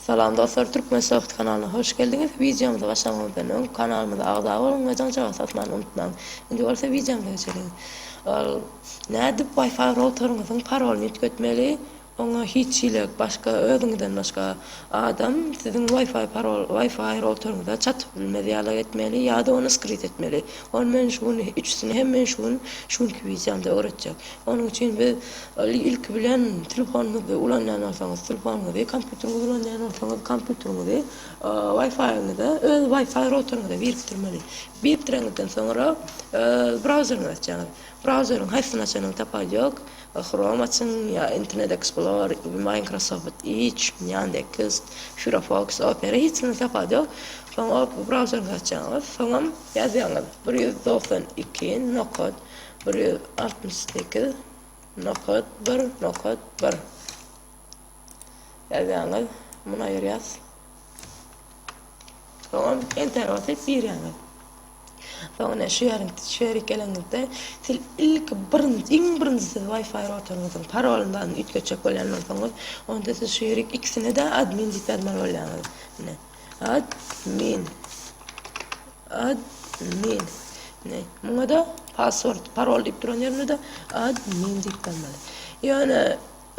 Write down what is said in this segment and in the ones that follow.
Salam dostlar Türkmen Soft kanalyna hoş geldiňiz. Wideomyza başlamaňyzdan öň kanalymyza agza boluň we jaňjagaz satmany unutmaň. Indi bolsa wideomyza geçeliň. Ol nädip Wi-Fi routeriňiziň parolyny üýtgetmeli? Oňa hiç hili başga özüňizden başga adam siziň Wi-Fi parol Wi-Fi routeriňize çatyp bilmez ýaly etmeli ýa-da ony skryt etmeli. Ony men şu gün üçüsini hem men şu gün şu günki wideomda öwretjek. Onuň üçin biz ilki bilen telefonymyzy ulanýan bolsaňyz telefonyňyzy, kompýuteriňizi ulanýan bolsaňyz kompýuteriňizi Wi-Fi-ňyza öz Wi-Fi routeringize birikdirmeli. Birikdireňizden soňra brauzeriňizi açýaňyz. Brauzeriň haýsyny açanyňyz tapaý ýok. Chrome açyň ýa Internet Explorer, Microsoft Edge, Yandex, Firefox, Opera hiç kimde tapaý ýok. Soň brauzeriňizi açýaňyz. Soňam ýazýaňyz bir ýüz togsan iki nokat Bir ýüz altmyş sekiz nokat bir nokat bir ýazýaňyz muny aýyrýas soňam enter basyp girýäňiz soň ine şu ýerin şu ýeri geleňizde siz ilki birinji iň birinji siz wi-fi routeringiziň parolyndan üýtgetjek bolýan bolsaňyz onda siz şu ýeri ikisine-de admin diýip ýazmaly bolýaňyz ine admin Admin. Ine, muňa-da password, parol diýip duran ýerinde-de admin diýip goýmaly. Ýöne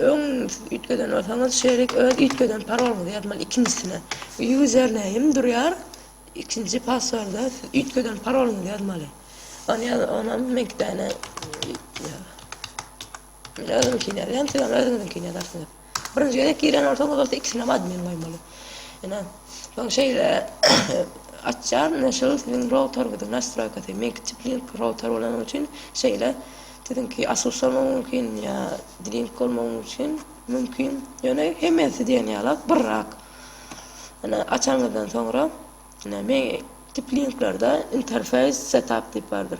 öň siz üýtgeden bolsaňyz, şeýlelik öz üýtgeden paroluňyzy ýazmaly ikinjisine. Username durýar, ikinji passworda siz üýtgeden paroluňyzy ýazmaly. Ony ýaz, onam meňkidäne Men özümkini ýazýan, siz hem özüňiziňkini ýazarsyňyz. Birinji gezek giren bolsaňyz bolsa ikisinem admin goýmaly. Ine. Soň şeýle açýan, ine şol siziň routerňiziň nastroýkasy. Meňki Tiplink router bolany üçin şeýle siziňki Asus-a mümkin ýa Dilink bolmagy üçin mümkin. Ýöne hemmesi diýen ýalak birrak. Ine açanyňyzdan soňra, ine men Tiplinklerde interface setup diýip bardyr.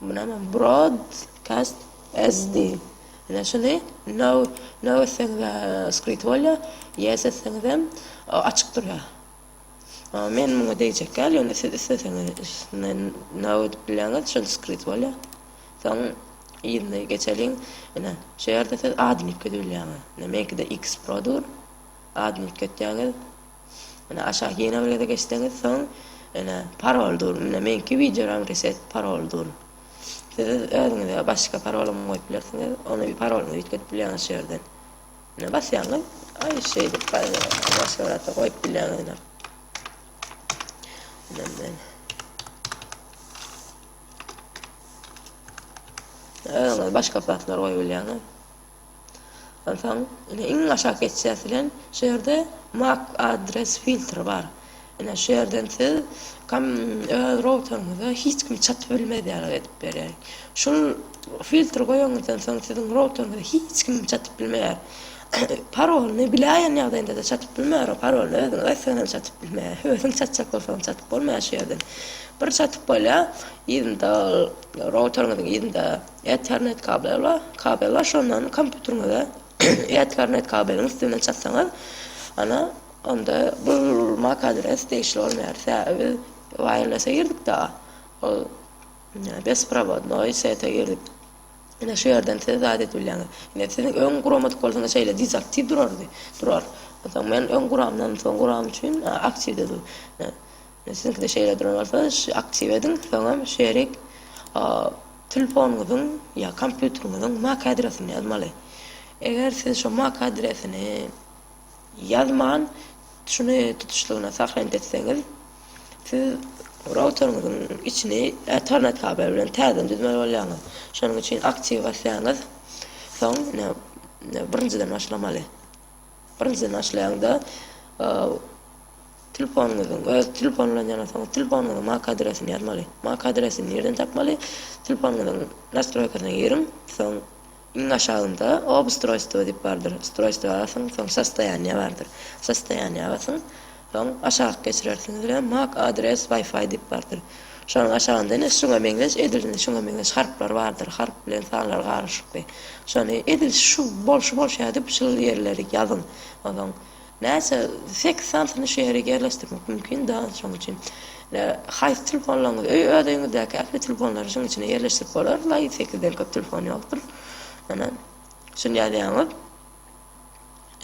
Munam brod kast SD ine şuny no no etseňizä skrit bolýa yes etseňizem açyk durýa. Ama men muňa degjekgäl ýöne siz isleseňiz üstüne no edip bilýäňiz şol skrit bolýa. Soň yzyny geçeliň ine şu ýerde siz adnipki düwülýäňiz. Ine meňkide x pro dur adnipki etýäňiz. Ine aşak ýene bir gezek geçseňiz soň ine parol dur. Ine meňki wideoram reset parol dur. Siz özüňize başga parolam goýup bilersiňiz. Ony parolyňyzy üýtgedip bilýäňiz şu ýerden. Ine basýaňyz. Aý şeýdip başga bir zat goýup bilýäňiz ine. Ine men. Özüňiz başga zatlar goýup bilýäňiz. Onsoň indi iň aşak geçýäs bilen şu ýerde Mac address filtr bar. Ine şu ýerden siz kom öz routeryňyza hiç kim çatyp bilmez ýaly edip berýär. Şul filtri goýanyňyzdan soň siziň routeryňyza hiç kim çatyp bilmeýär. Parolyny biläýen ýagdaýynda-da çatyp bilmeýär o parolyny özüňiz aýtsaňyzam çatyp bilmeýär. Özüň çatjak bolsaňam çatyp bolmaýar şu ýerden. Bir çatyp bolýar yzynda ol routeryňyzyň yzynda Ethernet kabel bar. Kabel bar, şondan kompýuteriňize Ethernet kabeliň üstünden çatsaňyz, ana, onda bu MAC adres degişli bolmaýar. Sebäbi biz wireless-e girdik-de, ol besprovodnoý sete girdik. Ine şu ýerden siz zat edip bilýäňiz. Ine siz öň guramadyk bolsaňyz şeýle dezaktiw durardy, durar. Onsoň men öň guramdan soň guram üçin aktiwde dur. Siziňkide şeýle duran bolsa aktiw ediň soňam şerik telefonyňyzyň ýa kompýuteriňiziň mac adresini ýazmaly. Eger siz şo mac adresini ýazman şuny tutuşlygyna sahrent etseňiz siz routeriňiziň içini ethernet kabel bilen täzeden düzmeli bolýaňyz. Şonuň üçin aktiw basýaňyz soň ine birinjiden başlamaly. Birinjiden başlaýaňda Telefonyňyzyň öz telefon bilen ýaňa soň telefonyňyzyň MAC adresini ýazmaly. MAC adresini nirden tapmaly? Telefonyňyzyň nastroýkasyna giriň, soň iň aşagynda Obustroýstwo diýip bardyr. Ustroýstwa basyň, soň Sostoýaniýa bardyr. Sostoýaniýa basyň, soň aşak geçirersiňiz we MAC adres Wi-Fi diýip bardyr. Şonuň aşagynda ine şuňa meňzeş edil şuňa meňzeş harplar bardyr. Harp bilen sanlar garyşykly. Şony edil şu bol şu bolşýar diýip şul ýerleri ýazyň. Onsoň Näçe seks santini şu ýere ýerleşdirmek mümkin dal şoň üçin haýsy telfonlaryňyz öý öz öýüňizdäki ähli telefonlary şuň içine ýerleşdirip bolar laý sekizden köp telefon ýokdur ene şuny ýazýaňyz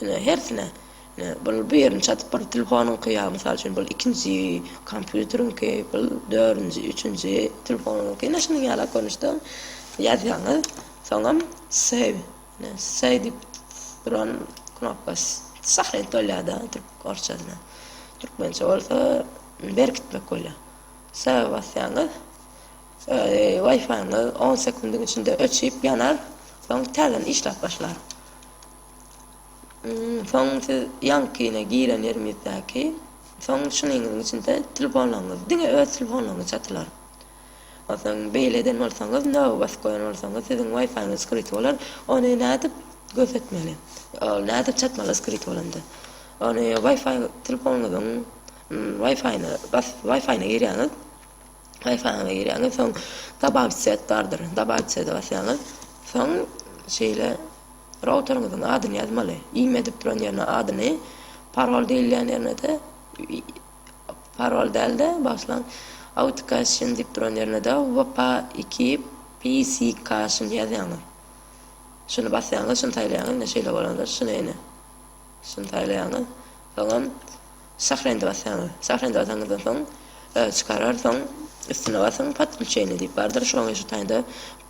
ene hersine ene bul bu ýerini çatyp bir telefonyňky ýa mysal üçin bul ikinji kompýuteriňki bul dördünji üçünji telefonyňky ene şunuň ýalak görnüşde ýazýaňyz soňam save Say dip duran knopkas sahrent bolýada türk orçasyna. Türkmençe bolsa berkitmek bolýa. Say basýaňyz Wi-Fi-ňyz on sekundyň içinde öçüp ýanar, soň täzeden işläp başlar. Soň siz ýaňkyny giren ýeriňizdäki soň şunyňyzyň içinde telefonlaryňyz diňe öz telefonlaryňyz çatylar. Onsoň beýle eden bolsaňyz, nobat goýan bolsaňyz, siziň waýfaýyňyz skryt bolar. Ony nädip görsetmeli? Ol nädip çatmaly skryt bolanda? Ony waýfaý telefonuňyzyň waýfaýyna basyp, waýfaýyna girýäňiz. Waýfaýyňyza girýäňiz, soň Dabawit set bardyr. Dabawit sede basýaňyz. Soň şeýle routeriňiziň adyny ýazmaly. Ime diýip duran ýerine adyny, parol diýilýän ýerine-de Parol däl-de, bagyşlaň. Autikaşin diýip duran ýerine-de Wpa iki Psikaşin ýazýaňyz. Şuny basýaňyz, şuny saýlaýaňyz, ine şeýle bolandyr. Şuny ine. Şuny saýlaýaňyz. Soňam Sahrendy basýaňyz. Sahrendy basanňyzdan soň çykarar, soň üstüne basyň, Podklçeniýe diýip bardyr. Şoň şu taýda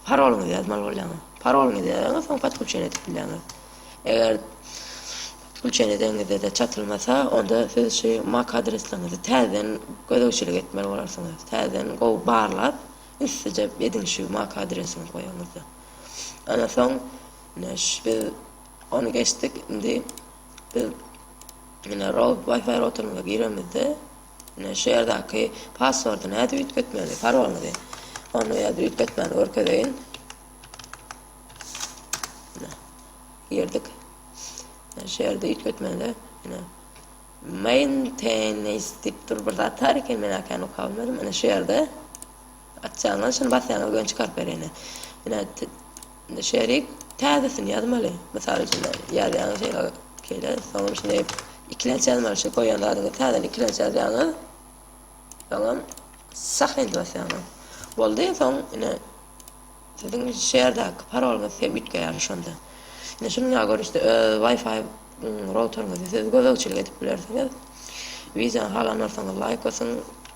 parolyňyzy ýazmaly bolýaňyz. Parolyňyzy ýazaňyz, soň Podklçeniýe edip bilýäňiz. Eger Pul çenedeňizde-de çatylmasa, onda siz şu mak adresligiňizi täzeden gözegçilik etmeli bolarsyňyz. Täzeden gowy barlap, üstüje ediň şu mak adresiňizi goýanyňyzda. Ondan soň ine şu biz ony geçdik. Indi biz ine rout Wi-Fi routerimize giremizde, ine şu ýerdäki passwordy nädip üýtgetmeli, parolyňyzy. Ony ýa-da üýtgetmäni görkezeýin. Girdik. Şu ýerde üýtgetmede ine Maintenance diýip dur bir zat bar eken, men akän oka bilmedim. Ine şu ýerde açjagyňyz şuny basýaňyz göni çykaryp berer ine. Ine indi şu ýeri täzesini ýazmaly. Mysal üçin ýazýaňyz şeýle şeýle soňam şuny ikilenç ýazmaly şu goýan zadyňyzy täzeden ikilenç ýazýaňyz. Soňam Sahent basýaňyz. Boldy, soň ine Siziň şäherdäki parolyňyz hem üýtgeýärdi şonda. Indi şunuňa görüşde öz Wi-Fi routeriňizi siz gözegçilik edip bilersiňiz. Wideony halanarsyňyz laýk basyň,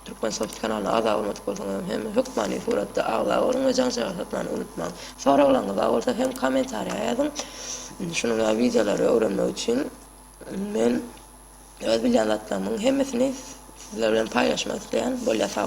Turkmensoft kanalyna agza bolmadyk bolsaňyzam hem hökmany suratda agza boluň we jaňjaga satmany unutmaň. Soraglaryňyz bar bolsa hem kommentariýa ýazyň. Indi şunuň ýaly wideolary öwrenmek üçin men öz bilýän zatlarymyň hemmesini sizler bilen paýlaşmak isleýän. Bolýa sag boluň.